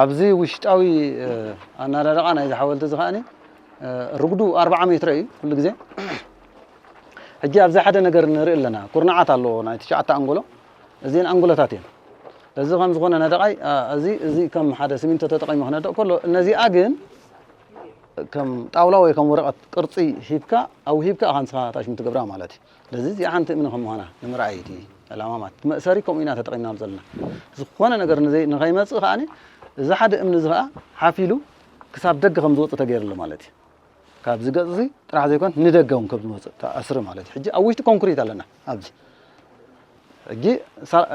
ኣብዚ ውሽጣዊ ኣናዳድቓ ናይዚ ሓወልቲ እዚ ከዓኒ ርጉዱ ኣርብዓ ሜትሮ እዩ ኩሉ ግዜ ሕጂ ኣብዚ ሓደ ነገር ንርኢ ኣለና ኩርናዓት ኣለዎ ናይ ትሽዓተ ኣንጎሎ እዚኤን ኣንጎሎታት እየን። እዚ ከም ዝኾነ ነደቓይ እዚ እዚ ከም ሓደ ሲሚንቶ ተጠቒሙ ክነድቕ ከሎ እነዚኣ ግን ከም ጣውላ ወይ ከም ወረቐት ቅርጺ ሂብካ ኣውሂብካ ኢኻ ንስኻ ታሽሙ ትገብራ ማለት እዩ። ስለዚ እዚኣ ሓንቲ እምኒ ከም ምዃና ንምርኣይ እቲ ዕላማ ማለት እቲ መእሰሪ ከምኡ ኢና ተጠቒምናሉ ዘለና። ዝኾነ ነገር ንኸይመጽእ ከኣ እዚ ሓደ እምኒ እዚ ከኣ ሓፍ ኢሉ ክሳብ ደገ ከም ዝወጽእ ተገይሩ ኣሎ ማለት እዩ። ካብዚ ገጽ እዚ ጥራሕ ዘይኮን ንደገ እውን ከም ዝመጽእ ተኣስሪ ማለት እዩ ሕጂ ኣብ ውሽጢ ኮንክሪት ኣለና ኣብዚ ሕጂ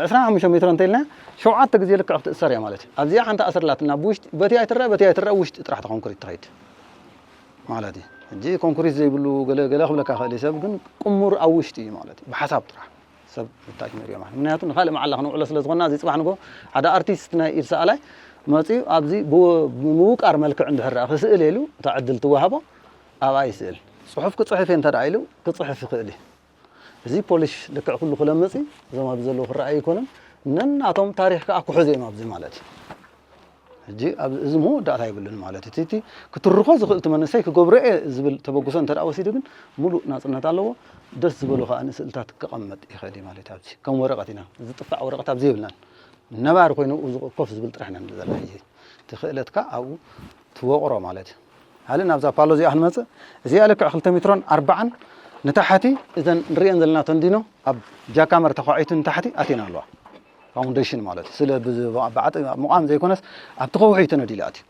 ዕስራን ሓሙሽተ ሜትሮ እንተኢልና ሸውዓተ ግዜ ልክዕ ክትእሰር እያ ማለት እዩ ኣብዚኣ ሓንቲ ኣስር ኣላትና ብውሽጢ በቲ ኣይትረአ በቲ ኣይትረአ ውሽጢ ጥራሕ ተኮንክሪት ትኸይድ ማለት እዩ ሕጂ ኮንክሪት ዘይብሉ ገለ ገለ ክብለካ ክእል ሰብ ግን ቅሙር ኣብ ውሽጢ እዩ ማለት እዩ ብሓሳብ ጥራሕ ሰብ ንታች ንሪኦ ማለት ምክንያቱ ንካልእ መዓላ ክነውዕሎ ስለ ዝኾና እዚ ጽባሕ ንግሆ ሓደ ኣርቲስት ናይ ኢድ ሰኣላይ መጺኡ ኣብዚ ብምውቃር መልክዕ እንድሕር ደኣ ክስእል ኢሉ እታ ዕድል ትወሃቦ ኣብኣ ይስእል ጽሑፍ ክጽሕፍ እየ እንተ ደኣ ኢሉ ክጽሕፍ ይኽእል እዩ እዚ ፖሊሽ ልክዕ ኩሉ ክለምጽ እዩ እዞም ኣብዚ ዘለዉ ክረኣዩ ኣይኮኑን ነናቶም ታሪኽ ከኣ ክሕዙ እዮም ኣብዚ ማለት እዩ ሕጂ ኣብዚ እዚ መወዳእታ የብሉን ማለት እዩ። እቲ እቲ ክትርኾ ዝኽእል እቲ መንእሰይ ክገብሮ እየ ዝብል ተበግሶ እንተደኣ ወሲዱ ግን ምሉእ ናጽነት ኣለዎ። ደስ ዝበሎ ከኣ ንስእልታት ከቐምጥ ይኽእል እዩ ማለት እዩ ኣብዚ። ከም ወረቐት ኢና ዝጥፋዕ ወረቐት ኣብዚ የብልናን። ነባሪ ኮይኑ ኣብኡ ኮፍ ዝብል ጥራሕ ኢና ንብል ዘለና ሕጂ። እቲ ክእለትካ ኣብኡ ትወቕሮ ማለት እዩ። ሃሊ ናብዛ ፓሎ እዚኣ ክንመጽእ እዚኣ ልክዕ ክልተ ሜትሮን ኣርባዓን ንታሕቲ እዘን ንርእየን ዘለና ተንዲኖ ኣብ ጃካመር ተዃዒቱ ንታሕቲ ኣትየን ኣለዋ። ፋውንደሽን ማለት ስለ ብዓጥ ምቛም ዘይኮነስ ኣብቲ ከውሒ ተነዲሉ ኣትዩ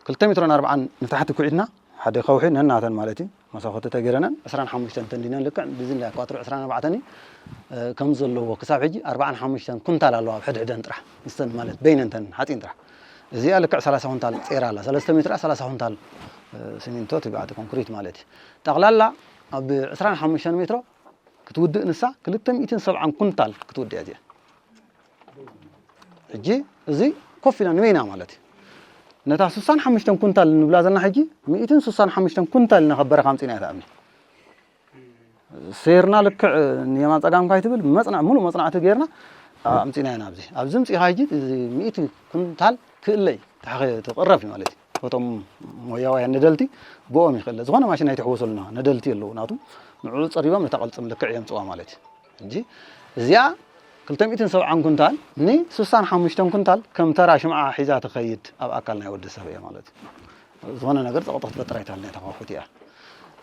ክልተ ሜትሮን ኣርብዓን ንታሕቲ ኩዒትና ሓደ ከውሒ ነናተን ማለት እዩ መሳኮቲ ተገይረነን ዕስራን ሓሙሽተን ተንዲነን ልክዕ ብዝላ ኳትሮ ዕስራን ኣርባዕተን እዩ ከም ዘለዎ ክሳብ ሕጂ ኣርባዓን ሓሙሽተን ኩንታል ኣለዋ ኣብ ሕድሕደን ጥራሕ ምስተን ማለት በይነንተን ሓፂን ጥራሕ እዚኣ ልክዕ ሰላሳ ኩንታል ፀይራ ኣላ ሰለስተ ሜትራ ሰላሳ ኩንታል ሲሚንቶ ትብዓቲ ኮንክሪት ማለት እዩ ጠቕላላ ኣብ ዕስራን ሓሙሽተን ሜትሮ ክትውድእ ንሳ ክልተ ሚእትን ሰብዓን ኩንታል ክትውድእ እያ እዚኣ ሕጂ እዚ ኮፍ ኢላ ንበይና ማለት እዩ ነታ ስሳን ሓሙሽተን ኩንታል ንብላ ዘለና ሕጂ ሚእትን ስሳን ሓሙሽተን ኩንታል ኢና ካብ በረኻ ኣምፂና እያ ትኣብኒ ሴርና ልክዕ ንየማን ፀጋም ካይ ትብል መፅናዕ ሙሉእ መፅናዕቲ ጌርና ኣምፂና ኢና ኣብዚ ኣብዚ ምፅኢኻ ሕጂ እዚ ሚእቲ ኩንታል ክእለይ ተቕረብ እዩ ማለት እዩ እቶም ሞያውያን ነደልቲ ብኦም ይክእለ ዝኮነ ማሽን ኣይትሕወሱልና ነደልቲ ኣለዉ ናቱ ንዕኡ ጸሪቦም ነታ ቅልጽም ልክዕ የምጽዋ ማለት እዩ እንጂ እዚኣ ክልተ ሚእትን ሰብዓን ኩንታል ን ስሳን ሓሙሽተን ኩንታል ከም ተራ ሽምዓ ሒዛ ትኸይድ ኣብ ኣካል ናይ ወዲ ሰብ እያ ማለት እዩ ዝኾነ ነገር ጸቕጦ ክትፈጥር ኣይትኽእልን እያ ተኸፉት እያ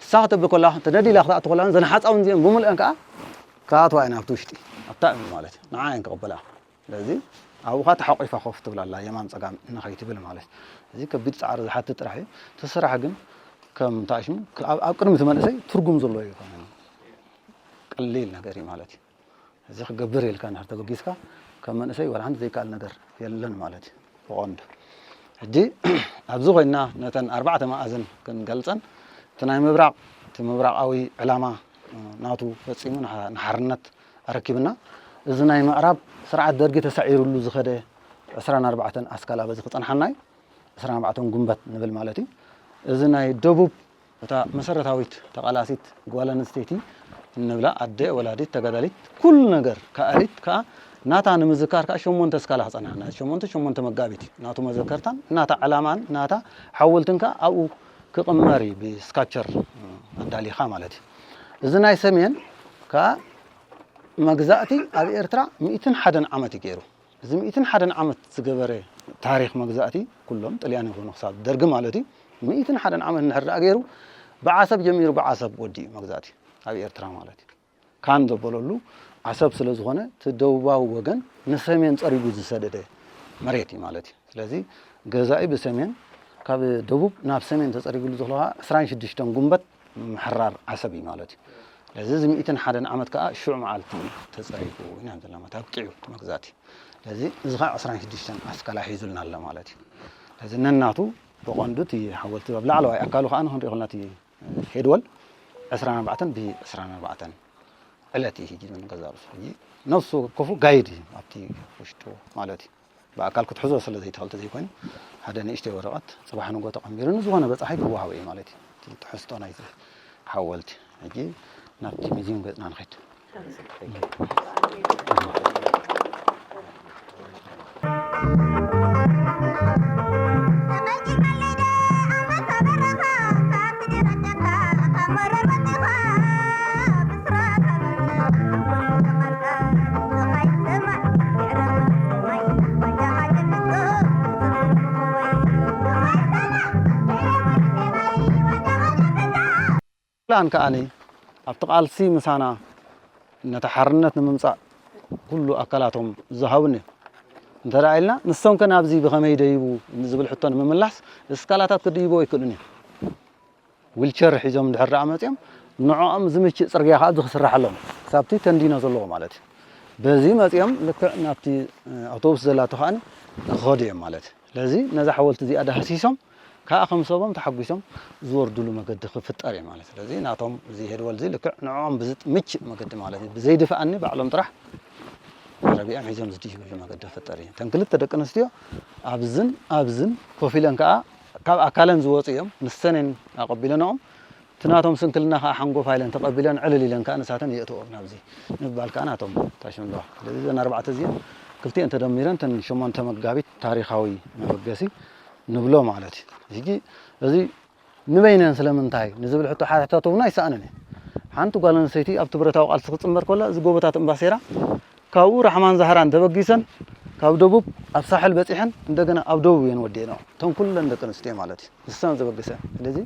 ንሳ ከተብል ኮላ ተደዲላ ክትኣቱ ኮላ ዘን ሓፃውን እዚኦም ብምልአን ከዓ ክኣትዋ እየን ኣብቲ ውሽጢ ኣብታ እምኒ ማለት እዩ ንዓ እየን ክቕበላ ስለዚ ኣብኡኻ ተሓቂፋ ኮፍ ትብል ኣላ የማን ጸጋም ንኸይትብል ማለት እዩ። እዚ ከቢድ ጻዕሪ ዝሓትት ጥራሕ እዩ። እቲ ስራሕ ግን ከም እንታይ ሽሙ ኣብ ቅድሚ እቲ መንእሰይ ትርጉም ዘለዎ ኣይኮነን። ቀሊል ነገር እዩ ማለት እዩ። እዚ ክገብር ኢልካ እንድሕር ተበጊስካ ከም መንእሰይ ዋላ ሓንቲ ዘይከኣል ነገር የለን ማለት እዩ ብቐንዱ። ሕጂ ኣብዚ ኮይና ነተን ኣርባዕተ መኣዝን ክንገልጸን እቲ ናይ ምብራቕ እቲ ምብራቓዊ ዕላማ ናቱ ፈጺሙ ንሓርነት ኣረኪብና እዚ ናይ ምዕራብ ስርዓት ደርጊ ተሳዒሩሉ ዝኸደ ዕስራን ኣርባዕተን ኣስካል ኣበዚ ክጸንሓና እዩ ዕስራን ኣርባዕተን ጉንበት ንብል ማለት እዩ እዚ ናይ ደቡብ እታ መሰረታዊት ተቓላሲት ጓል ኣንስተይቲ እንብላ ኣደ ወላዲት ተጋዳሊት ኩሉ ነገር ከኣሊት ከኣ ናታ ንምዝካር ከኣ ሸሞንተ ስካላ ክጸንሓና ሸሞንተ ሸሞንተ መጋቢት እዩ ናቱ መዘከርታን ናታ ዕላማን ናታ ሓወልትን ከኣ ኣብኡ ክቕመር እዩ ብስካቸር ኣዳሊኻ ማለት እዩ እዚ ናይ ሰሜን ከኣ መግዛእቲ ኣብ ኤርትራ ሚእትን ሓደን ዓመት እዩ ገይሩ። እዚ ሚእትን ሓደን ዓመት ዝገበረ ታሪኽ መግዛእቲ ኩሎም ጥልያን ይኹኑ ክሳብ ደርጊ ማለት እዩ ሚእትን ሓደን ዓመት እንድሕር ደኣ ገይሩ ብዓሰብ ጀሚሩ ብዓሰብ ወዲኡ መግዛእቲ ኣብ ኤርትራ ማለት እዩ። ካን ዘበለሉ ዓሰብ ስለ ዝኾነ እቲ ደቡባዊ ወገን ንሰሜን ጸሪጉ ዝሰደደ መሬት እዩ ማለት እዩ። ስለዚ ገዛኢ ብሰሜን ካብ ደቡብ ናብ ሰሜን ተጸሪግሉ ዘሎ ከኣ ዕስራን ሽዱሽተን ጉንበት ምሕራር ዓሰብ እዩ ማለት እዩ። ስለዚ እዚ ሚእትን ሓደን ዓመት ከኣ ሽዑ መዓልቲ እዩ ተጸሪፉ ኢና ንብል ዘለና ማለት እዩ። ኣብቂዑ እቲ መግዛእቲ። ስለዚ እዚ ከኣ ዕስራን ሽዱሽተን ኣስካላ ሒዙልና ኣሎ ማለት እዩ። ስለዚ ነናቱ ብቐንዱ እቲ ሓወልቲ ኣብ ላዕለዋይ ኣካሉ ከኣ ክንሪኦ ከለና እቲ ሄድወል ዕስራን ኣርባዕተን ብዕስራን ኣርባዕተን ዕለት እዩ ሒዙ ንገዛእ ርእሱ ሕጂ ነፍሱ ወከፉ ጋይድ እዩ ኣብቲ ውሽጡ ማለት እዩ። ብኣካል ክትሕዞ ስለ ዘይትኽእል ተዘይኮይኑ ሓደ ንእሽተይ ወረቐት ጽባሕ ንግሆ ተቐንቢሩ ንዝኾነ በጻሒ ክወሃቦ እዩ ማለት እዩ። እቲ ትሕዝቶ ናይቲ ሓወልቲ ሕጂ ናብቲ ሚዚዩም ገጽና ንኸይድ። ፕላን ከኣ ኣብቲ ቃልሲ ምሳና ነቲ ሓርነት ንምምፃእ ኩሉ ኣካላቶም ዝሃቡን እዮም እንተ ኢልና ንሶም ከ ናብዚ ብኸመይ ደይቡ ዝብል ሕቶ ንምምላስ እስካላታት ክድይቦ ኣይክእሉን እዮም ዊልቸር ሒዞም እንድሕር ደኣ መጺኦም ንዕኦም ዝምችእ ጽርግያ ከኣ እዚ ክስራሓሎም እዩ። ክሳብቲ ተንዲኖ ዘለዎ ማለት እዩ። በዚ መጺኦም ልክዕ ናብቲ ኣውቶቡስ ዘላቶ ከኣ ንክኸዱ እዮም ማለት እዩ። ስለዚ ነዛ ሓወልቲ እዚኣ ዳህሲሶም ከኣ ከም ሰቦም ተሓጒሶም ዝወርድሉ መገዲ ክፍጠር እዩ ማለት እዩ። ስለዚ ናቶም እዚ ሄድወል እዚ ልክዕ ንዕኦም ብዝምችእ መገዲ ማለት እዩ። ብዘይድፍኣኒ ባዕሎም ጥራሕ ዓረብኦም ሒዞም ዝድይብሉ መገዲ ክፍጠር እዩ። እተን ክልተ ደቂ ኣንስትዮ ኣብዝን ኣብዝን ኮፍ ኢለን ከኣ ካብ ኣካለን ዝወጹ እዮም፣ ምስ ሰኔን ኣቐቢለንኦም፣ እቲ ናቶም ስንክልና ከኣ ሓንጎፋይ ኢለን ተቐቢለን ዕልል ኢለን ከኣ ንሳተን የእትወኦም ናብዚ ንምባል ከኣ ናቶም ታሽም ኣለዋ። ስለዚ እዘን ኣርባዕተ እዚኤን ክልቲኤን ተደሚረን እተን ሸሞንተ መጋቢት ታሪኻዊ መበገሲ ንብሎ ማለት እዩ። ሕጂ እዚ ንበይነን ስለምንታይ ንዝብል ሕቶ ሓደ ሕታቶ እውን ኣይሰኣንን እዩ። ሓንቲ ጓል ኣንስተይቲ ኣብቲ ብረታዊ ቃልሲ ክትጽንበር ከላ እዚ ጎቦታት እምባሴራ ካብኡ ራሕማን ዛህራን ተበጊሰን ካብ ደቡብ ኣብ ሳሕል በጺሐን እንደገና ኣብ ደቡብ እየን ወዲኤንኦ እተን ኩለን ደቂ ኣንስትዮ ማለት እዩ ንሰን ዘበግሰን ስለዚ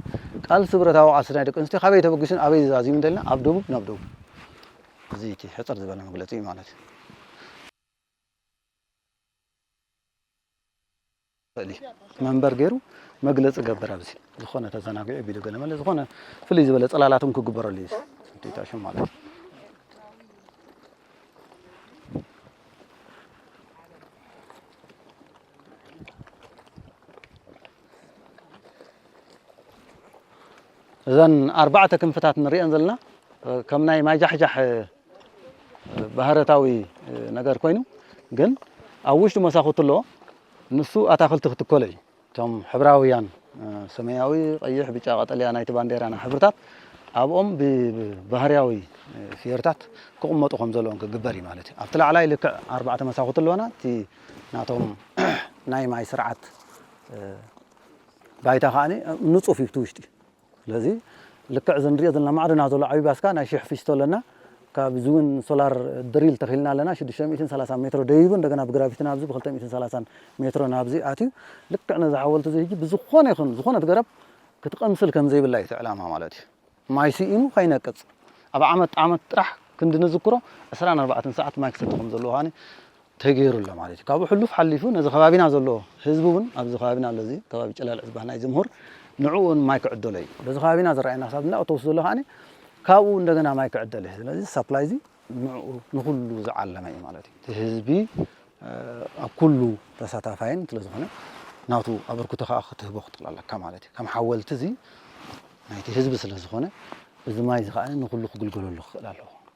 ቃልሲ ብረታዊ ቃልሲ ናይ ደቂ ኣንስትዮ ካበይ ተበጊሱን ኣበይ ዝዛዝዩን እንተልና ኣብ ደቡብ ናብ ደቡብ እዚ እቲ ሕፅር ዝበለ መግለፂ ማለት እዩ ይኽእል እዩ መንበር ገይሩ መግለፂ ገብር ኣብዚ ዝኾነ ተዘናጊዑ ቢሉ ገለ መለ ዝኾነ ፍልይ ዝበለ ፅላላት እውን ክግበረሉ እዩ ዴታሽን ማለት እዩ እዘን ኣርባዕተ ክንፍታት ንሪኤን ዘለና ከም ናይ ማይጃሕጃሕ ባህረታዊ ነገር ኮይኑ ግን ኣብ ውሽጢ መሳኹቲ ኣሎ ንሱ ኣታኽልቲ ክትከሎ እዩ እቶም ሕብራውያን ሰማያዊ ቀይሕ ብጫ ቀጠልያ ናይቲ ባንዴራና ሕብርታት ኣብኦም ብባህርያዊ ፍዮርታት ክቕመጡ ከም ዘለዎም ክግበር እዩ ማለት እዩ ኣብቲ ላዕላይ ልክዕ ኣርባዕተ መሳኹቲ ኣለዋና እቲ ናቶም ናይ ማይ ስርዓት ባይታ ከዓ ንፁፍ እዩ እቲ ውሽጢ ስለዚ ልክዕ እዚ ንሪኦ ዘለና ማዕረ ኢና ዘሎ ዓብይ ባስካ ናይ ሽሕ ፊስቶ ኣለና ካብዚ እውን ሶላር ድሪል ተኺልና ኣለና ሽዱሽተ ሚእትን ሰላሳን ሜትሮ ደይቡ እንደገና ብግራቪቲ ናብዚ ብክልተ ሚእትን ሰላሳን ሜትሮ ናብዚ ኣትዩ ልክዕ ነዚ ሓወልቲ እዚ ሕጂ ብዝኾነ ይኹን ዝኾነት ገረብ ክትቕምስል ከም ዘይብላ እዩ እቲ ዕላማ ማለት እዩ ማይ ስኢኑ ከይነቅፅ ኣብ ዓመት ዓመት ጥራሕ ክንዲ ንዝክሮ ዕስራን ኣርባዕተን ሰዓት ማይ ክሰቲ ከም ዘለዎ ከዓኒ ተገይሩ ኣሎ ማለት እዩ። ካብኡ ሕሉፍ ሓሊፉ ነዚ ከባቢና ዘሎ ህዝቢ እውን ኣብዚ ከባቢና ኣሎ እዚ ከባቢ ጨላልዕ ዝበሃል ናይዚ ምሁር ንዕኡ እውን ማይ ክዕደሎ እዩ። በዚ ከባቢና ዝረኣየና ክሳብ እንዳ ኦቶቡስ ዘሎ ከዓኒ ካብኡ እንደገና ማይ ክዕደል እዩ። ስለዚ ሳፕላይ እዚ ንዕኡ ንኹሉ ዝዓለመ እዩ ማለት እዩ። እቲ ህዝቢ ኣብ ኩሉ ተሳታፋይን ስለ ዝኾነ ናቱ ኣበርክቶ ከዓ ክትህቦ ክትኽእል ኣለካ ማለት እዩ። ከም ሓወልቲ እዚ ናይቲ ህዝቢ ስለ ዝኾነ እዚ ማይ እዚ ከዓኒ ንኹሉ ክግልገለሉ ክኽእል ኣለዎ።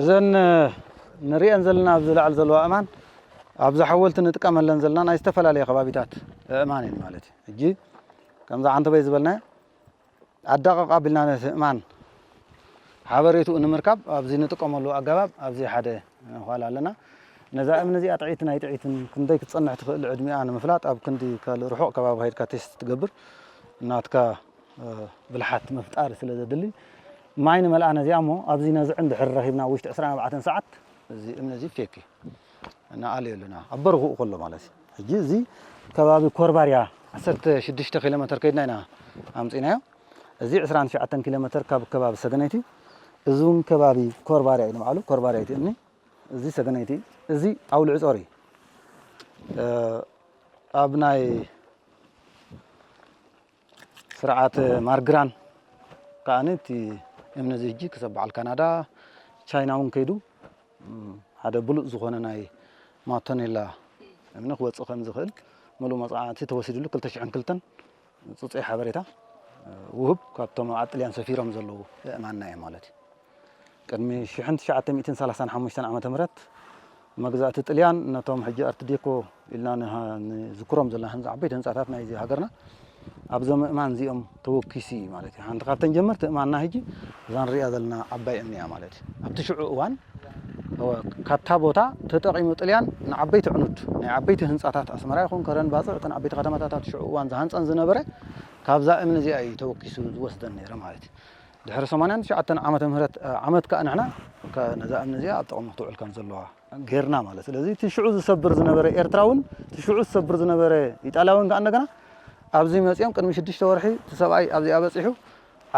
እዘን ንሪኤን ዘለና ኣብዚ ላዕሊ ዘለዋ እማን ኣብዛ ሓወልቲ ንጥቀመለን ዘለና ናይ ዝተፈላለየ ከባቢታት እማን እየን ማለት እዩ ሕጂ ከምዛ ዓንተበይ ዝበልናያ ኣዳቕቕ ኣቢልና ነቲ እማን ሓበሬትኡ ንምርካብ ኣብዚ ንጥቀመሉ ኣገባብ ኣብዚ ሓደ ኋል ኣለና። ነዛ እምኒ እዚኣ ጥዕይትን ኣይጥዕይትን ክንደይ ክትጸንሕ ትኽእል ዕድሚኣ ንምፍላጥ ኣብ ክንዲ ካልእ ርሑቕ ከባቢ ከይድካ ቴስት ትገብር ናትካ ብልሓት ምፍጣር ስለ ዘድሊ ማይ ንመልኣ ነዚኣ እሞ ኣብዚ ነዝዕን ድሕሪ ረኺብና ኣብ ውሽጢ ዕስራን ኣርባዕተን ሰዓት እዚ እምኒ እዚ ፌክ እዩ ንኣልዮ ኣለና ኣብ በርኽኡ ከሎ ማለት እዩ። ሕጂ እዚ ከባቢ ኮርባርያ ዓሰርተ ሽዱሽተ ኪሎ መተር ከይድና ኢና ኣምጺእናዮ። እዚ ዕስራን ትሽዓተን ኪሎ መተር ካብ ከባቢ ሰገነይቲ እዩ። እዚ እውን ከባቢ ኮርባርያ እዩ ንባዕሉ፣ ኮርባርያ እቲ እምኒ፣ እዚ ሰገነይቲ እዩ። እዚ ኣውሊዕጾር እዩ። ኣብ ናይ ስርዓት ማርግራን ከኣ እቲ እምኒ እዚ ሕጂ ክሰብ በዓል ካናዳ ቻይና እውን ከይዱ ሓደ ብሉፅ ዝኾነ ናይ ማቶኔላ እምኒ ክወፅእ ከም ዝኽእል ምሉእ መፅናዕቲ ተወሲድሉ 202 ፅፁይ ሓበሬታ ውህብ ካብቶም ኣብ ጥልያን ሰፊሮም ዘለዉ እእማንና እዮም ማለት እዩ ቅድሚ ሽሕን ትሽዓተ ሚእትን ሰላሳን ሓሙሽተን ዓመተ ምህረት መግዛእቲ ጥልያን ነቶም ሕጂ ኣርት ዴኮ ኢልና ንዝክሮም ዘለና ህንፃ ዓበይቲ ህንፃታት ናይዚ ሃገርና ኣብዞም ምእማን እዚኦም ተወኪሱ እዩ ማለት እዩ ሓንቲ ካብተን ጀመርቲ እማንና ህጂ እዛ ንሪኣ ዘለና ዓባይ እምኒ እያ ማለት እዩ ኣብቲ ሽዑ እዋን ካብታ ቦታ ተጠቂሙ ጥልያን ንዓበይቲ ዕኑድ ናይ ዓበይቲ ህንፃታት ኣስመራ ይኹን ከረን ባፅዕ እተን ዓበይቲ ከተማታት ኣብቲ ሽዑ እዋን ዝሃንፀን ዝነበረ ካብዛ እምኒ እዚኣ እዩ ተወኪሱ ዝወስደን ነይረ ማለት እዩ ድሕሪ ሰማንያን ትሽዓተን ዓመተ ምህረት ዓመት ከኣ ንሕና ነዛ እምኒ እዚኣ ኣብ ጥቕሚ ክትውዕል ከም ዘለዋ ጌርና ማለት ስለዚ እቲ ሽዑ ዝሰብር ዝነበረ ኤርትራውን እቲ ሽዑ ዝሰብር ዝነበረ ኢጣልያውን ከኣ እንደገና ኣብዚ መጺኦም ቅድሚ ሽዱሽተ ወርሒ እቲ ሰብኣይ ኣብዚኣ በጺሑ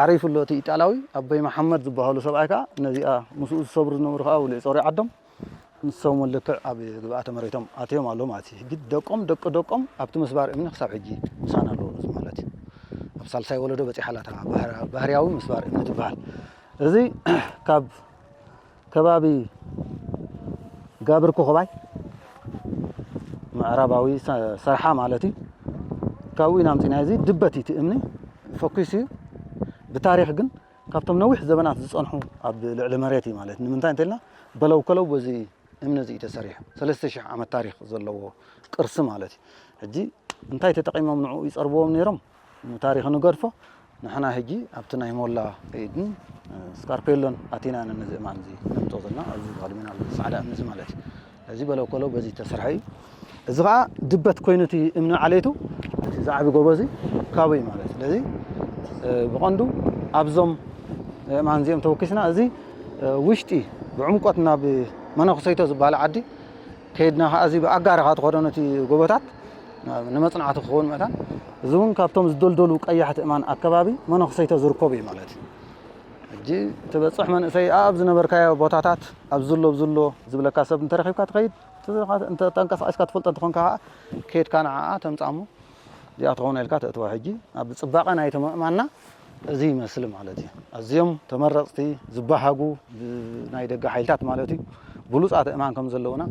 ዓሪፉ ኣሎ እቲ ኢጣልያዊ ኣቦይ መሓመድ ዝበሃሉ ሰብኣይ ከኣ ነዚኣ ምስኡ ዝሰብሩ ዝነበሩ ከኣ ውልዒ ጾሪ ዓዶም ንሶም'ውን ልክዕ ኣብ ግብኣተ መሬቶም ኣትዮም ኣለዉ ማለት እዩ። ሕጂ ደቆም ደቂ ደቆም ኣብቲ ምስባር እምኒ ክሳብ ሕጂ ምሳና ኣለዉ እዚ ማለት እዩ። ኣብ ሳልሳይ ወለዶ በጺሓ ኣላ እታ ባህር- ባህርያዊ ምስባር እምኒ ትበሃል። እዚ ካብ ከባቢ ጋብር ኮኾባይ ምዕራባዊ ሰ- ሰርሓ ማለት እዩ። ካብኡ ኢና ኣምጺእናዮ እዚ ድበት እዩ እቲ እምኒ ፈኲሱ እዩ። ብታሪኽ ግን ካብቶም ነዊሕ ዘበናት ዝጸንሑ ኣብ ልዕሊ መሬት እዩ ማለት ንምንታይ እንተልና በለው ከለው በዚ እምኒ እዚ እዩ ተሰሪሑ ሰለስተ ሽሕ ዓመት ታሪኽ ዘለዎ ቅርሲ ማለት እዩ ሕጂ እንታይ ተጠቂሞም ንዕኡ ይጸርብዎም ነይሮም ንታሪኽ ንገድፎ ንሕና ሕጂ ኣብቲ ናይ ሞላ ኢድን ስካርፔሎን ኣቲና ነዚ እማን እዚ ነምጾ ዘለና ኣብዚ ተኸዲመና ጻዕዳ እምኒ እዚ ማለት እዩ እዚ በሎ ኮሎ በዚ እተሰርሐ እዩ። እዚ ከኣ ድበት ኮይኑ እቲ እምኒ ዓሌቱ እቲ ዝዓቢ ጎቦ እዚ ካብኡ እዩ ማለት ስለዚ ብቐንዱ ኣብዞም እማን እዚኦም ተወኪስና እዚ ውሽጢ ብዕምቆት ናብ መነኩሰይቶ ዝበሃል ዓዲ ከይድና ከዓ እዚ ብኣጋርኻ ትኸዶ ነቲ ጎቦታት ንመፅናዕቲ ክኸውን መእታን እዚ እውን ካብቶም ዝደልደሉ ቀያሕቲ እማን ኣከባቢ መነኩሰይቶ ዝርከቡ እዩ ማለት እዩ ሕጂ ትበጽሕ መንእሰይ ኣኣብ ዝነበርካዮ ቦታታት ኣብዚ ኣሎ ኣብዚ ኣሎ ዝብለካ ሰብ እንተረኺብካ ትኸይድ እንተ ተንቀሳቒስካ ትፈልጦ እንተኾንካ ከኣ ኬድካ ንዓኣ ተምጽኣ እሞ እዚኣ ትኸውን ኢልካ ተእትዋ ሕጂ ኣብ ጽባቐ ናይቲ ምእማንና እዚ ይመስል ማለት እዩ ኣዝዮም ተመረጽቲ ዝበሃጉ ብናይ ደገ ሓይልታት ማለት እዩ ብሉጽ ኣትእማን ከም ዘለዉና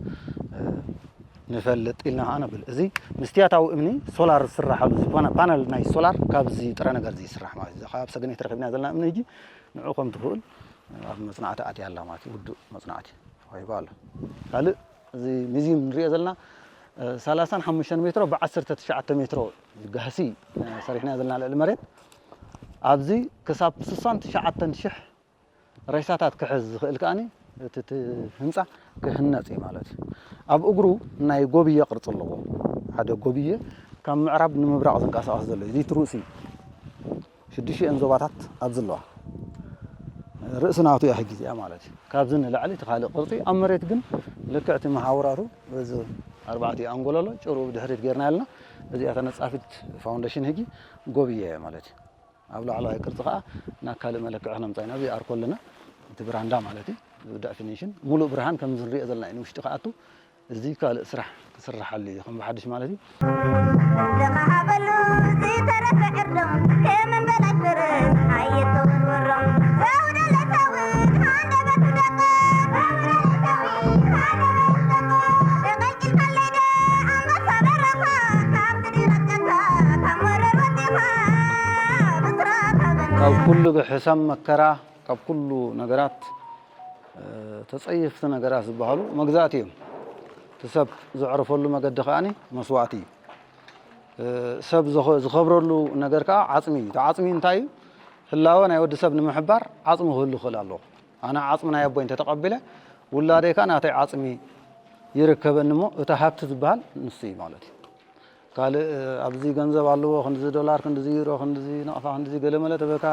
ንፈልጥ ኢልና ከኣ ነብል እዚ ምስትያታዊ እምኒ ሶላር ዝስራሓሉ እዚ ፓና- ፓነል ናይ ሶላር ካብ እዚ ጥረ ነገር እዚ ይስራሕ ማለት እዩ። እዛ ካብ ሰገነይቲ ረኺብናያ ዘለና እምኒ ሕጂ ንዑ ከም ትኽእል ኣብ መጽናዕቲ ኣትያ ኣላ ማለት እዩ። ውዱእ መጽናዕቲ ተዋሂቡ ኣሎ። ካልእ እዚ ሚዚዩም ንርእዮ ዘለና ሰላሳን ሓሙሽተን ሜትሮ ብዓሰርተ ትሽዓተ ሜትሮ ጋህሲ ሰሪሕናዮ ዘለና ልዕሊ መሬት ኣብዚ ክሳብ ስሳን ትሽዓተን ሽሕ ሬሳታት ክሕዝ ዝኽእል ከኣ እቲ እቲ ህንፃ ክህነፅ እዩ ማለት እዩ። ኣብ እግሩ ናይ ጎብየ ቅርፂ ኣለዎ። ሓደ ጎብየ ካብ ምዕራብ ንምብራቕ ዝንቀሳቐስ ዘሎ እዩ። ዚት ርእሲ ሽዱሽተን ዞባታት ኣብ ዝለዋ ርእሲ ናቱ እያ ሕጊ እዚኣ ማለት እዩ። ካብዚ ንላዕሊ እቲ ካልእ ቅርፂ ኣብ መሬት ግን ልክዕ እቲ መሓውራቱ እዚ ኣርባዕቲኡ ኣንጎሎ ኣሎ ጭርኡ ብድሕሪት ጌርና ያልና እዚኣ ተነጻፊት ፋውንዴሽን ህጊ ጎብየ ማለት እዩ። ኣብ ላዕለዋይ ቅርጺ ከኣ ናብ ካልእ መለክዒ ክነምጽኣ ኢና። ኣብዚ ኣርኮ ኣለና፣ እቲ ብራንዳ ማለት እዩ። እዚ ደፊኒሽን ምሉእ ብርሃን ከምዚ ንርእዮ ዘለና እዩ ንውሽጢ ክኣቱ። እዚ ካልእ ስራሕ ክስርሓሉ እዩ ከም ብሓድሽ ማለት እዩ። ተኻሃበሉ ዝተረፈ ዕርዶም ከም እምበላሽ ፈረስ ሓየት ተወርወሮም ዘውደ ለታዊት ሃንደበቱ ደቐ ዘውደ ለታዊት ሃንደበቱ ደቐ ተቐልቂልካለይ ዶ ኣንበሳ በረኻ ካብ ካብ ኩሉ ሕሰም መከራ ካብ ኩሉ ነገራት ተጸየፍቲ ነገራት ዝበሃሉ መግዛእቲ እዮም። እቲ ሰብ ዘዕረፈሉ መገዲ ከኣ መስዋእቲ እዩ። ሰብ ዝኸብረሉ ነገር ከኣ ዓጽሚ እዩ። እቲ ዓጽሚ እንታይ እዩ? ህላወ ናይ ወዲ ሰብ ንምሕባር ዓጽሚ ክህሉ ክኽእል ኣለዎ። ኣነ ዓጽሚ ናይ ኣቦይ እንተ ተቐቢለ ውላደይ ከኣ ናተይ ዓጽሚ ይርከበኒ እሞ እቲ ሃብቲ ዝበሃል ንሱ እዩ ማለት እዩ። ካልእ ኣብዚ ገንዘብ ኣለዎ ክንድዚ ዶላር ክንድዚ ዩሮ ክንድዚ ናቕፋ ክንድዚ ገለመለ ተበልካ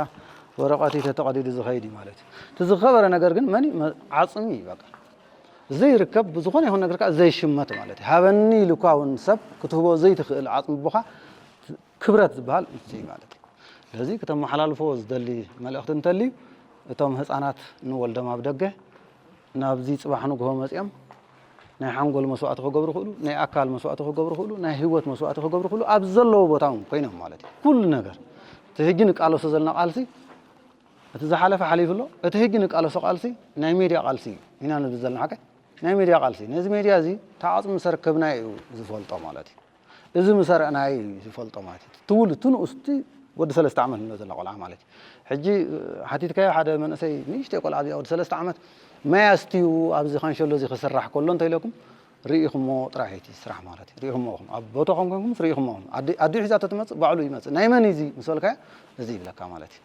ወረቐት እዩ ተተቐዲዱ ዝኸይድ እዩ ማለት እዩ። እቲ ዝኸበረ ነገር ግን መን እዩ? ዓጽሚ እዩ በቃ። ዘይርከብ ብዝኾነ ይኹን ነገር ከኣ ዘይሽመት ማለት እዩ። ሃበኒ ኢሉ እኳ እውን ሰብ ክትህቦ ዘይትኽእል ዓጽሚ ኣቦኻ ክብረት ዝበሃል እዚ እዩ ማለት እዩ። ስለዚ ክተመሓላልፎ ዝደሊ መልእኽቲ እንተልዩ እቶም ህጻናት ንወልዶም ኣብ ደገ ናብዚ ጽባሕ ንግሆ መጺኦም ናይ ሓንጎል መስዋእቲ ክገብሩ ይኽእሉ፣ ናይ ኣካል መስዋእቲ ክገብሩ ይኽእሉ፣ ናይ ህይወት መስዋእቲ ክገብሩ ይኽእሉ፣ ኣብ ዘለዎ ቦታ እውን ኮይኖም ማለት እዩ። ኩሉ ነገር እቲ ሕጂ ንቃለሶ ዘለና ቃልሲ እቲ ዝሓለፈ ሓሊፉ ኣሎ። እቲ ሕጂ ንቃለሶ ቃልሲ ናይ ሜድያ ቃልሲ እዩ ኢና ንብል ዘለና ሓቀይ ናይ ሜድያ ቃልሲ ነዚ ሜድያ እዚ ተዓጽሙ ሰርከብናዮ እዩ ዝፈልጦ ማለት እዩ። እዚ ምሰርዕናይ እዩ ዝፈልጦ ማለት እዩ እቲ ትውልድ እቲ ንኡስ እቲ ወዲ ሰለስተ ዓመት ንብሎ ዘላ ቆልዓ ማለት እዩ ሕጂ ሓቲትካዮ ሓደ መንእሰይ ንእሽተይ ቆልዓ እዚኣ ወዲ ሰለስተ ዓመት ማይ ኣስትዩ ኣብዚ ካንሸሎ እዚ ክስራሕ ከሎ እንተኢለኩም ርኢኹሞ ጥራሕ እዩ እቲ ስራሕ ማለት እዩ ርኢኹሞ ኢኹም ኣብ ቦታኹም ኮንኩምስ ርኢኹሞ ኢኹም ኣዲኡ ሒዛቶ ትመፅእ ባዕሉ ይመፅእ ናይ መን እዚ ምስ በልካዮ እዚ ይብለካ ማለት እዩ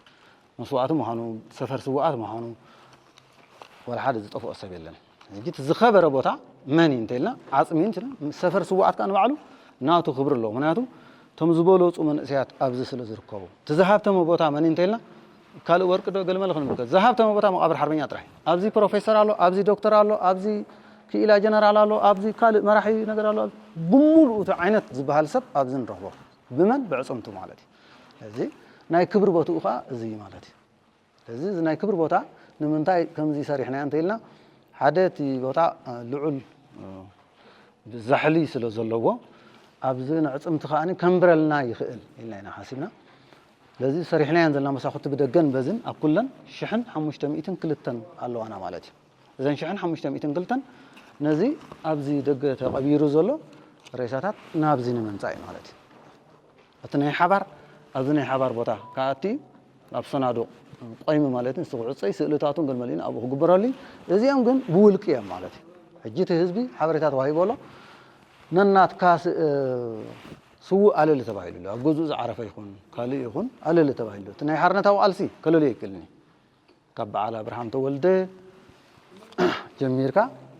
መስዋእቲ ምዃኑ ሰፈር ስዋኣት ምዃኑ ወላ ሓደ ዝጠፍኦ ሰብ የለን ሕጂ እቲ ዝኸበረ ቦታ መን እዩ እንተኢልና ዓጽሚ እዩ እንተኢልና ሰፈር ስዉኣት ከኣ ንባዕሉ ናቱ ክብሪ ኣለዎ ምክንያቱ እቶም ዝበለጹ መንእሰያት ኣብዚ ስለ ዝርከቡ እቲ ዝሃብተመ ቦታ መን እዩ እንተኢልና ካልእ ወርቂ ዶ ገልመለ ክንብል ዝሃብተመ ቦታ መቓብር ሓርበኛ ጥራሕ እዩ ኣብዚ ፕሮፌሰር ኣሎ ኣብዚ ዶክተር ኣሎ ኣብዚ ክኢላ ጀነራል ኣሎ ኣብዚ ካልእ መራሒ ነገር ኣሎ ብምሉኡ እቲ ዓይነት ዝበሃል ሰብ ኣብዚ ንረኽቦ ብመን ብዕፅምቱ ማለት እዩ እዚ ናይ ክብሪ ቦትኡ ከዓ እዚ ማለት እዩ ስለዚ እዚ ናይ ክብሪ ቦታ ንምንታይ ከምዚ ሰሪሕናዮ እንተኢልና ሓደ እቲ ቦታ ልዑል ዛሕሊ ስለ ዘለዎ ኣብዚ ነዕጽምቲ ከኣ ከንብረልና ይኽእል ኢልና ኢና ሓሲብና ስለዚ ሰሪሕናየን ዘለና መሳኹቲ ብደገን በዝን ኣብ ኩለን ሽሕን ሓሙሽተ ሚእትን ክልተን ኣለዋና ማለት እዩ እዘን ሽሕን ሓሙሽተ ሚእትን ክልተን ነዚ ኣብዚ ደገ ተቐቢሩ ዘሎ ሬሳታት ናብዚ ንምምጻእ እዩ ማለት እዩ እቲ ናይ ሓባር ኣብዚ ናይ ሓባር ቦታ ክኣቲ ኣብ ሰናዱቕ ቆይሚ ማለት እዩ። ክዕጾይ ስእልታቱን ገልመሊን ኣብኡ ክግበረሉ እዩ። እዚኦም ግን ብውልቂ እዮም ማለት እዩ። ሕጂ እቲ ህዝቢ ሓበሬታ ተዋሂቦ ኣሎ ነናትካ ስውእ ኣለሊ ተባሂሉ ኣሎ ኣብ ገዝኡ ዝዓረፈ ይኹን ካልእ ይኹን ኣለሊ ተባሂሉ እቲ ናይ ሓርነታዊ ቃልሲ ከለልዮ ኣይክእልን እዩ። ካብ በዓል ኣብርሃም ተወልደ ጀሚርካ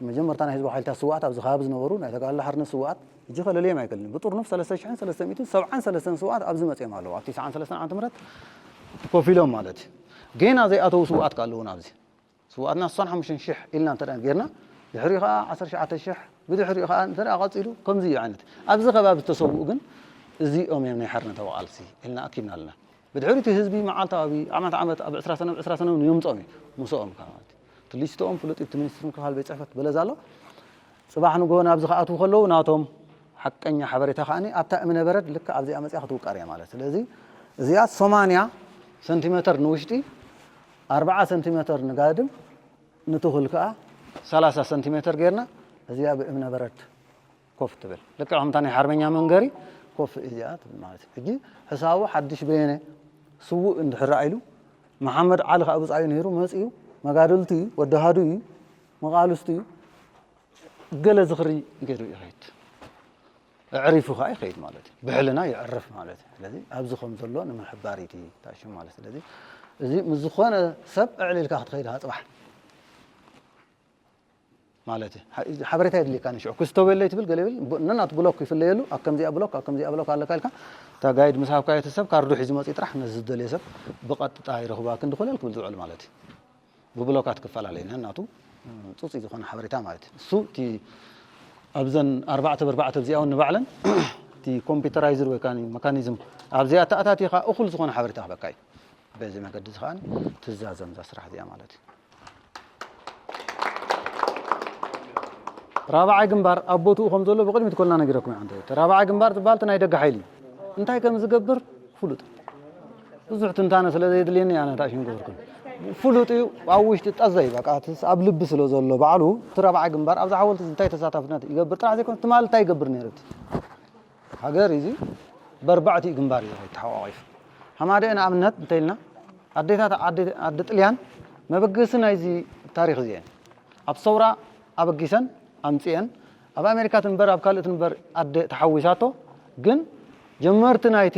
መጀመርታ ናይ ህዝባዊ ሓይልታት ስውኣት ኣብዚ ከባቢ ዝነበሩ ናይ ተጋድሎ ሓርነት ስውኣት እጂ ከለልየም ኣይክእልን ብጥርኑፍ ሰለስተ ሽሕን ሰለስተ ሚእትን ሰብዓን ሰለስተን ስውኣት ኣብዚ መፅዮም ኣለዉ ኣብ ትስዓን ሰለስተን ዓመተ ምህረት ኮፍ ኢሎም ማለት እዩ ጌና ዘይኣተዉ ስውኣት ከ ኣለዉና ኣብዚ ስውኣትና ስሳን ሓሙሽተን ሽሕ ኢልና እንተ ጌርና ድሕሪኡ ከዓ ዓሰርተ ሸዓተ ሽሕ ብድሕሪኡ ከዓ እንተ ቀፂሉ ከምዚ እዩ ዓይነት ኣብዚ ከባቢ ዝተሰውኡ ግን እዚኦም እዮም ናይ ሓርነታዊ ቃልሲ ኢልና ኣኪብና ኣለና ብድሕሪ እቲ ህዝቢ መዓልታዊ ዓመት ዓመት ኣብ ዕስራ ሰነ ብ ዕስራ ሰነ ውን የምጾም እዩ ምሶኦም ከኣ ማለት እዩ እቲ ሊስትኦም ፍሉጥ እዩ እቲ ሚኒስትሪ ምክልኻል ቤት ጽሕፈት በለዛ ኣሎ ጽባሕ ንግሆ ናብዚ ክኣትዉ ከለዉ ናቶም ሓቀኛ ሓበሬታ ከኣ ኣብታ እምነ በረድ ልክዕ ኣብዚኣ መጺኣ ክትውቀር እያ ማለት ስለዚ እዚኣ ሰማንያ ሰንቲመተር ንውሽጢ ኣርብዓ ሰንቲመተር ንጋድም ንትኹል ከኣ ሰላሳ ሰንቲመተር ጌርና እዚኣ ብእምነ በረድ ኮፍ ትብል ልክዕ ከምታ ናይ ሓርበኛ መንገሪ ኮፍ እያ ትብል ማለት እዩ ሕጂ ሕሳቡ ሓድሽ በየነ ስውእ እንድሕር ኢሉ መሓመድ ዓሊ ከዓ ብፃዩ ነይሩ መፅዩ መጋድልቱ እዩ ወዲ ሃዱ እዩ መቓልስቱ እዩ ገለ ዝኽሪ ገይሩ ይኸይድ ኣዕሪፉ ከዓ ይኸይድ ማለት እዩ ብሕልና ይዕርፍ ማለት እዩ ስለዚ ኣብዚ ከም ዘሎ ንምሕባር እዩ ታሹ ማለት ስለዚ እዚ ምስ ዝኾነ ሰብ ዕዕል ኢልካ ክትኸይድ ሃፅባሕ ማለት እዩ ሓበሬታ የድልየካን እዩ ሽዑ ክስቶ በለይ ትብል ገለ ይብል ብ- ነናቱ ብሎክ ይፍለየሉ ኣብ ከምዚኣ ብሎክ ኣብ ከምዚኣ ብሎክ ኣለካ ኢልካ እታ ጋይድ ምስ ሃብካዮ እቲ ሰብ ካርዱ ሒዙ መፅዩ ጥራሕ ነዚ ዝደልዮ ሰብ ብቐጥጣ ይረኽባ ክንዲ ኮለል ክብል ዝውዕል ማለት እዩ ብብሎካት ክፈላለ እዩ ነናቱ እ፣ ፅፁይ ዝኾነ ሓበሬታ ማለት እዩ እሱ እቲ ኣብዘን ኣርባዕተ በርባዕተ ኣብዚኣ እውን ንባዕለን እቲ ኮምፒውተራይዝድ ወይ ከዓ መካኒዝም ኣብዚኣ ተኣታቲኻ እኹል ዝኾነ ሓበሬታ ክህበካ እዩ በዚ መገዲ እዚ ከኣ ትዛዘም እዛ ስራሕ እዚኣ ማለት እዩ። ራብዓይ ግንባር ኣብ ቦትኡ ከም ዘሎ ብቕድሚት ኮልና ነጊረኩም ኢና እንተ እቲ ራብዓይ ግንባር ዝበሃል እቲ ናይ ደገ ሓይሊ እዩ። እንታይ ከም ዝገብር ፍሉጥ ብዙሕ ትንታነ ስለ ዘየድልየኒ ኣነ ታእሽ ንገበርኩም ፍሉጥ እዩ ኣብ ውሽጢ ጠዘይ በቃ ኣብ ልቢ ስለ ዘሎ ባዕሉ እቲ ራብዓይ ግንባር ኣብዚ ሓወልቲ እንታይ ተሳታፍነት ይገብር ጥራሕ ዘይኮነ ትማሊ እንታይ ይገብር ነይሩ እቲ ሃገር ኢዚ በርባዕቲኡ ግንባር ኢዩ ተሓቋቒፉ ሃማደኤ ንኣብነት እንተኢልና ኣዴታት ኣዲ ጥልያን መበገሲ ናይዚ ታሪኽ ኢዚ ኢየን ኣብ ሰውራ ኣበጊሰን ኣምጺኤን ኣብ ኣሜሪካ ትንበር ኣብ ካልእ ትንበር ኣደ ተሓዊሳቶ ግን ጀመርቲ ናይቲ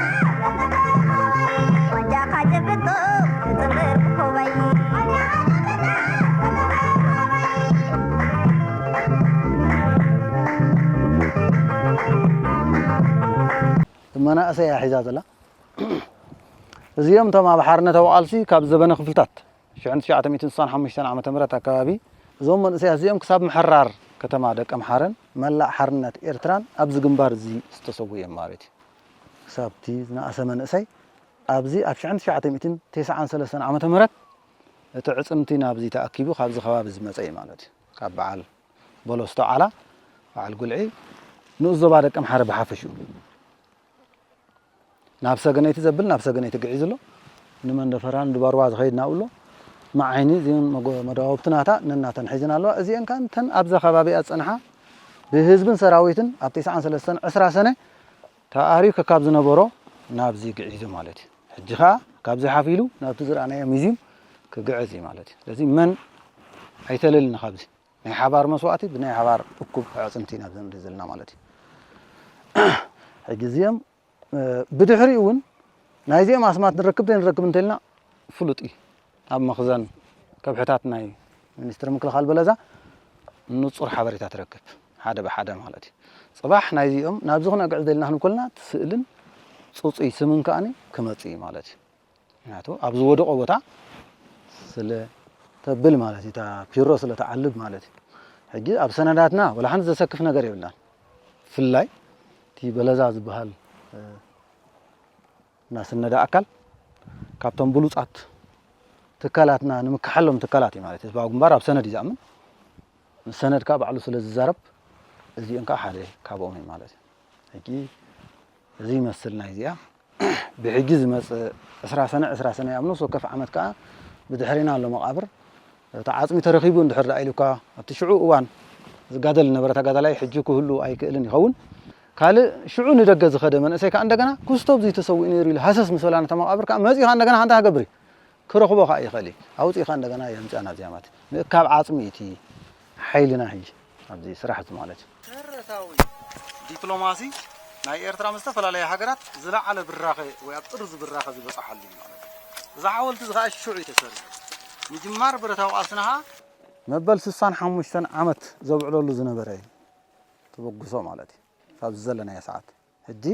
መናእሰይ እያ ሒዛ ዘላ እዚኦም እቶም ኣብ ሓርነታዊ ቃልሲ ካብ ዘበነ ክፍልታት 1965 ዓ ም ኣከባቢ እዞም መንእሰያት እዚኦም ክሳብ ምሕራር ከተማ ደቀ ምሓረን መላእ ሓርነት ኤርትራን ኣብዚ ግንባር እዚ ዝተሰጉ እዮም ማለት እዩ ክሳብ'ቲ ዝነኣሰ መንእሰይ ኣብዚ ኣብ ሽሕን ትሽዓተ ሚእትን ቴስዓን ሰለስተን ዓመተ ምህረት እቲ ዕጽምቲ ናብዚ ተኣኪቡ ካብዚ ከባቢ ዝመጸ እዩ ማለት እዩ። ካብ በዓል ቦሎስቶ ዓላ፣ በዓል ጉልዒ፣ ንኡስ ዞባ ደቀምሓረ ብሓፈሽኡ ናብ ሰገነይቲ ዘብል ናብ ሰገነይቲ ግዒዙ ኣሎ። ንመንደፈራን ድባርዋ ዝኸይድ ናብኡ ኣሎ። መዓይኒ እዚን መዳውብቲ ናታ ነናተን ሒዝን ኣለዋ። እዚኤን ከኣ እተን ኣብዛ ከባቢኣ ዝጸንሓ ብህዝብን ሰራዊትን ኣብ ቴስዓን ሰለስተን ዕስራ ሰነ ተኣርዩ ከካብ ዝነበሮ ናብዚ ግዒዙ ማለት እዩ። ሕጂ ከኣ ካብዚ ሓፍ ኢሉ ናብቲ ዝረኣናዮ ሚዚም ክግዕዝ እዩ ማለት እዩ። ስለዚ መን ኣይተለልን ካብዚ ናይ ሓባር መስዋእቲ ብናይ ሓባር እኩብ ኣዕፅምቲ ኢና ዘንድ ዘለና ማለት እዩ። ሕጂ እዚኦም ብድሕሪኡ እውን ናይዚኦም ኣስማት ንረክብ ዘይንረክብ እንተልና ፍሉጥ እዩ። ኣብ መኽዘን ከብሕታት ናይ ሚኒስትሪ ምክልኻል በለዛ ንጹር ሓበሬታ ትረክብ፣ ሓደ ብሓደ ማለት እዩ። ጽባሕ ናይዚኦም ናብዚ ክነግዕዝ ደሊና ክንብል ከለና እቲ ስእልን ጽጹይ ስምን ከኣ ክመጽእ እዩ ማለት እዩ። ምክንያቱ ኣብ ዝወደቖ ቦታ ስለ ተብል ማለት እዩ፣ እታ ፒሮ ስለ ትዓልብ ማለት እዩ። ሕጂ ኣብ ሰነዳትና ወላ ሓንቲ ዘሰክፍ ነገር የብላን። ብፍላይ እቲ በለዛ ዝበሃል እናስነደ ኣካል ካብቶም ብሉፃት ትካላትና ንምካሓሎም ትካላት እዩ ማለት ህዝባዊ ግንባር ኣብ ሰነድ እዩ ዝኣምን ምስ ሰነድ ከዓ ባዕሉ ስለ ዝዛረብ እዚኦም ከዓ ሓደ ካብኦም እዩ ማለት እዩ ሕጂ እዚ ይመስል ናይ እዚኣ ብሕጂ ዝመፅእ ዕስራ ሰነ ዕስራ ሰነ ኣብ ነፍሲ ወከፍ ዓመት ከዓ ብድሕሪና ኣሎ መቃብር እቲ ዓፅሚ ተረኪቡ እንድሕር ዳኣ ኢሉካ ኣብቲ ሽዑ እዋን ዝጋደል ዝነበረ ተጋዳላይ ሕጂ ክህሉ ኣይክእልን ይኸውን ካልእ ሽዑ ንደገ ዝኸደ መንእሰይ ከኣ እንደገና ኩስቶብ እዙይ ተሰዊኡ ነይሩ ኢሉ ሃሰስ ምስ በላ ነታ መቓብር ከኣ መጺኡ ከኣ እንደገና እንታይ ክገብር እዩ? ክረኽቦ ከኣ ይኽእል እዩ። ኣውጺእካ እንደገና የምጽኣ ናብዚኣ ማለት እዩ። ምእካብ ዓጽሚ እዩ እቲ ሓይልና ሕጂ ኣብዚ ስራሕ እዚ ማለት እዩ። ተረታዊ ዲፕሎማሲ ናይ ኤርትራ ምስ ዝተፈላለያ ሃገራት ዝለዓለ ብራኸ ወይ ኣብ ጥርዙ ብራኸ ዝበጸሓሉ እዩ ማለት እዩ። እዚ ሓወልቲ እዚ ከኣ ሽዑ እዩ ተሰሪሑ። ምጅማር ብረታዊ ቃልስና ከኣ። መበል ስሳን ሓሙሽተን ዓመት ዘብዕለሉ ዝነበረ እዩ። ተበግሶ ማለት እዩ ካብዚ ዘለናዮ ሰዓት ሕጂ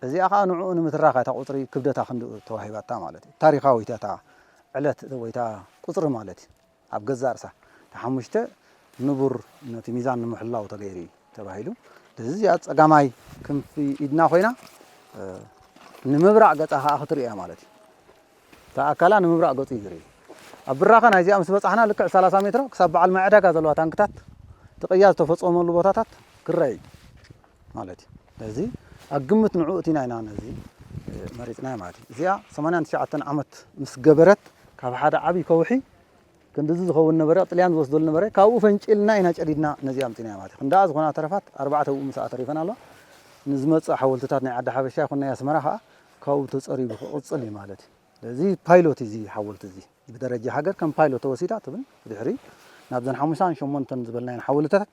እዚኣ ከኣ ንዕኡ ንምትራኽ እያ እታ ቁጽሪ ክብደታ ክንድኡ ተዋሂባታ ማለት እዩ ታሪኻዊት እያ እታ ዕለት ወይ እታ ቁጽሪ ማለት እዩ ኣብ ገዛእ ርእሳ እታ ሓሙሽተ ንቡር ነቲ ሚዛን ንምሕላው ተገይሩ እዩ ተባሂሉ ስለዚ እዚኣ ጸጋማይ ክንፊ ኢድና ኮይና ንምብራቕ ገጻ ከኣ ክትርእያ ማለት እዩ እታ ኣካላ ንምብራቕ ገጹ ይግሪ። ኣብ ብራኸ ናይዚኣ ምስ በጻሕና ልክዕ ሰላሳ ሜትሮ ክሳብ በዓል ማይ ዕዳጋ ዘለዋ ታንክታት እቲ ቅያ ዝተፈጸመሉ ቦታታት ክረኣ እዩ ማለት እዩ። ስለዚ ኣብ ግምት ንዕኡ እቲና ኢና ነዚ መሪጽናዮ ማለት እዩ። እዚኣ ሰማንያን ትሽዓተን ዓመት ምስ ገበረት ካብ ሓደ ዓቢ ከውሒ ክንድዚ ዝኸውን ነበረ፣ ጥልያን ዝወስደሉ ነበረ፣ ካብኡ ፈንጪልና ኢና ጨዲድና ነዚኣ ኣምጺእናያ ማለት እዩ። ክንድኣ ዝኾና ተረፋት ኣርባዕተ ኣብኡ ምስኣ ተሪፈን ኣለዋ። ንዝመጽእ ሓወልትታት ናይ ዓዲ ሓበሻ ይኹን ናይ ኣስመራ ከኣ ካብኡ ተጸሪጉ ክቕጽል እዩ ማለት እዩ። ስለዚ ፓይሎት እዩ እዚ ሓወልቲ እዚ። ብደረጃ ሃገር ከም ፓይሎት ተወሲዳ ትብል። ብድሕሪ ናብዘን ሓሙሽተን ሸሞንተን ዝበልናየን ሓወልትታት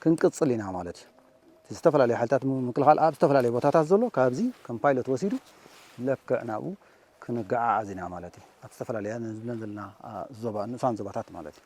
ክንቅጽል ኢና ማለት እዩ። እቲ ዝተፈላለዩ ሓይልታት ምክልኻል ኣብ ዝተፈላለዩ ቦታታት ዘሎ ካብዚ ከም ፓይሎት ወሲዱ ለክዕ ናብኡ ክንገዓዓዝ ኢና ማለት እዩ። ኣብ ዝተፈላለያ ዝብለን ዘለና ዞባ ንኡሳን ዞባታት ማለት እዩ።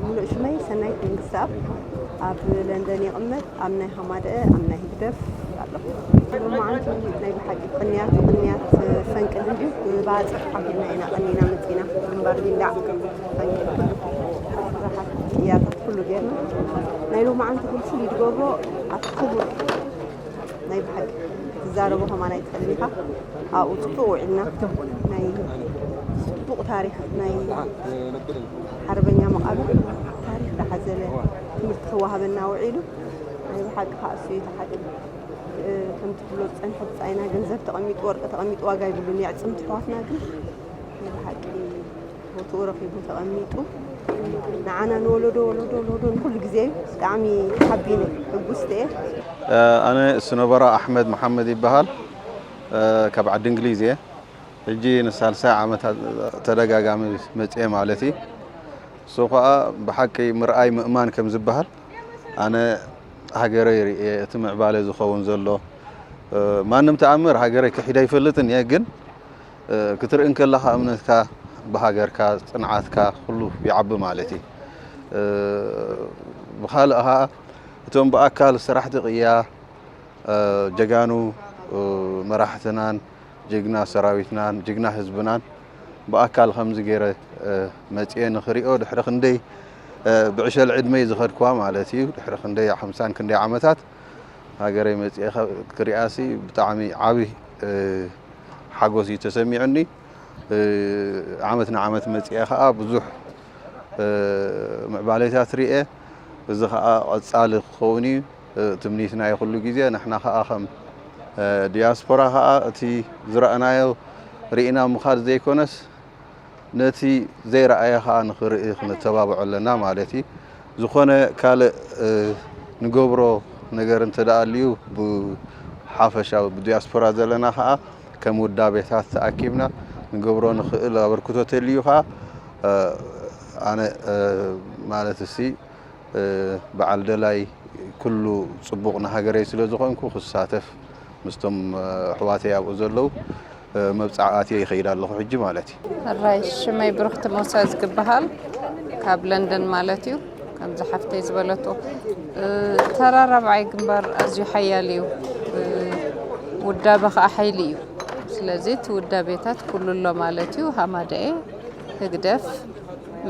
ምሉእ ሽመይ ሰናይት መንግስትኣብ ኣብ ለንደን ይቕመጥ ኣብ ናይ ሃማደኣ ኣብ ናይ ህግደፍ ኣለኹ መዓንቲ ናይ ብሓቂ ቅንያት ቅንያት ፈንቅል እንዲዩ ብባፅዕ ኣቢልና ኢና ቀኒና መፂና ግንባር ቢላዕ ፈንቅል ቅያታት ኩሉ ጌርና ናይ ሎማዓንቲ ግን ፍሉይ ዝገብሮ ኣቲ ክቡር ናይ ብሓቂ ትዛረቦ ከማን ኣይትኽእልን ኢኻ ኣብኡ ፅቡቅ ውዒልና ናይ ፅቡቅ ታሪክ ናይ ሓርበኛ መቓብር ታሪኽ ዝሓዘለ ትምህርቲ ክወሃበና ውዒሉ ናይ ብሓቂ ከኣ እሱ እዩ እቲ ሓቂ ከምቲ ትብሎ ዝጸንሐ ብጻይና ገንዘብ ተቐሚጡ ወርቂ ተቐሚጡ ዋጋ ይብሉን የዕጽምቲ ኣሕዋትና ግን ናይ ብሓቂ ቦትኡ ረኺቡ ተቐሚጡ ንዓና ንወለዶ ወለዶ ወለዶ ንኩሉ ግዜ እዩ ብጣዕሚ ሓቢነ ሕጉስቲ እየ ኣነ እሱ ነበራ ኣሕመድ መሓመድ ይበሃል ካብ ዓዲ እንግሊዝ እየ ሕጂ ንሳልሳይ ዓመት ተደጋጋሚ መጽየ ማለት እዪ እሱ ከኣ ብሓቂ ምርኣይ ምእማን ከም ዝብሃል ኣነ ሃገረይ ርእየ እቲ ምዕባለ ዝኸውን ዘሎ ማንም ተኣምር ሃገረይ ክሒደ ኣይፈልጥን እየ ግን ክትርኢ እንከለኻ እምነትካ ብሃገርካ ጽንዓትካ ኩሉ ይዓቢ ማለት እዪ ብኻልእ ከኣ እቶም ብኣካል ሰራሕቲ ቅያ ጀጋኑ መራሕትናን ጅግና ሰራዊትናን ጅግና ህዝብናን ብኣካል ከምዚ ገይረ መጽየ ንክሪኦ ድሕሪ ክንደይ ብዕሸል ዕድመይ ዝኸድክዋ ማለት እዩ ድሕሪ ክንደይ ሓምሳን ክንደይ ዓመታት ሃገረይ መጽየ ክሪኣሲ ብጣዕሚ ዓቢ ሓጎስ እዩ ተሰሚዑኒ ዓመት ንዓመት መጽየ ከዓ ብዙሕ ምዕባሌታት ርኤ እዚ ከዓ ቐጻሊ ክኸውን እዩ ትምኒትና እዩ ኩሉ ግዜ ንሕና ከኣ ከም ዲያስፖራ ከኣ እቲ ዝረኣናዮ ሪኢና ምኻድ ዘይኮነስ ነቲ ዘይረኣየ ከኣ ንኽርኢ ክንተባብዖ ኣለና ማለት እዩ ዝኾነ ካልእ ንገብሮ ነገር እንተ ኣልዩ ብሓፈሻዊ ብዲያስፖራ ዘለና ከኣ ከም ውዳቤታት ተኣኪብና ንገብሮ ንኽእል ኣበርክቶ ተልዩ ከኣ ኣነ ማለት እሲ በዓል ደላይ ኩሉ ጽቡቕ ንሃገረይ ስለ ዝኾንኩ ክሳተፍ ምስቶም ኣሕዋተይ ኣብኡ ዘለዉ መብጽዓ ኣትየ ይኸይድ ኣለኹ ሕጂ ማለት እዩ። ሕራይ ሽመይ ብርኽቲ ሞሳ ዝግብሃል ካብ ለንደን ማለት እዩ። ከምዚ ሓፍተይ ዝበለቶ ተራ ራብዓይ ግንባር ኣዝዩ ሓያል እዩ። ውዳበ ከዓ ሓይሊ እዩ። ስለዚ እቲ ውዳቤታት ኩሉ ኣሎ ማለት እዩ። ሃማደኤ ህግደፍ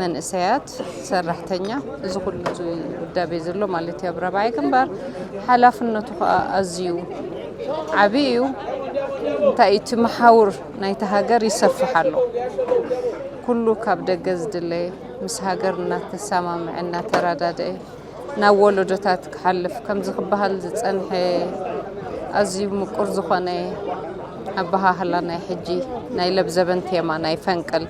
መንእሰያት ሰራሕተኛ እዚ ኩሉ ዝውዳቤ ዘሎ ማለት እዩ ኣብ ራብዓይ ግንባር ሓላፍነቱ ከዓ ኣዝዩ ዓብዪ እዩ እንታይ እቲ መሓውር ናይቲ ሃገር ይሰፍሕ ኣሎ ኩሉ ካብ ደገ ዝድለ ምስ ሃገር እናተሰማምዐ እናተረዳድአ ናብ ወለዶታት ክሓልፍ ከምዚ ክበሃል ዝፀንሐ ኣዝዩ ምቁር ዝኾነ ኣበሃህላ ናይ ሕጂ ናይ ለብዘበን ቴማ ናይ ፈንቅል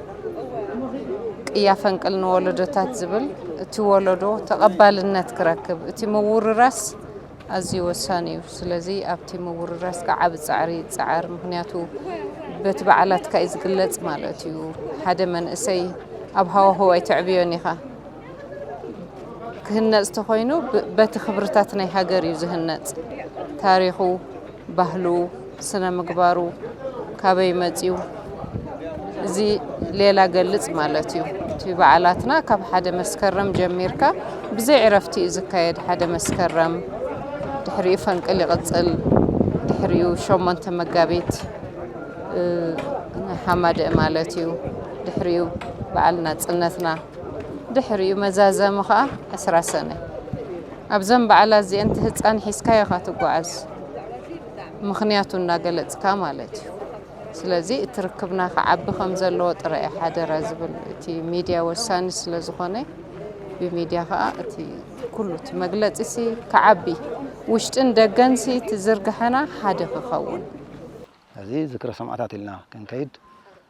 ቅያ ፈንቅል ንወለዶታት ዝብል እቲ ወለዶ ተቐባልነት ክረክብ እቲ ምውርራስ ኣዝዩ ወሳኒ እዩ። ስለዚ ኣብቲ ምውርራስ ከዓ ዓቢ ጻዕሪ ይጸዓር። ምክንያቱ በቲ በዓላትካ እዩ ዝግለጽ ማለት እዩ። ሓደ መንእሰይ ኣብ ሃዋህው ኣይተዕብዮን ኢኻ። ክህነፅ ተኾይኑ በቲ ክብርታት ናይ ሃገር እዩ ዝህነፅ። ታሪኹ፣ ባህሉ፣ ስነ ምግባሩ ካበይ መፅዩ እዚ ሌላ ገልፅ ማለት እዩ። እቲ በዓላትና ካብ ሓደ መስከረም ጀሚርካ ብዘይ ዕረፍቲ እዩ ዝካየድ። ሓደ መስከረም ድሕሪኡ ፈንቅል ይቕፅል፣ ድሕሪኡ ሸሞንተ መጋቢት ሓማደእ ማለት እዩ፣ ድሕሪኡ በዓል ናፅነትና። ድሕሪኡ መዛዘሚ ከኣ ዕስራ ሰነ። ኣብዘን በዓላት እዚኤን እቲ ህጻን ሒዝካዮ ኢኻ ትጓዓዝ። ምኽንያቱ እናገለጽካ ማለት እዩ። ስለዚ እቲ ርክብና ክዓቢ ከም ዘለዎ ጥራይ እዩ ሓደራ ዝብል። እቲ ሚድያ ወሳኒ ስለ ዝኾነ ብሚድያ ከኣ እቲ ኩሉ እቲ መግለጺሲ ክዓቢ ውሽጥን ደገንሲ እቲ ዝርግሐና ሓደ ክኸውን። እዚ ዝክረ ሰማእታት ኢልና ክንከይድ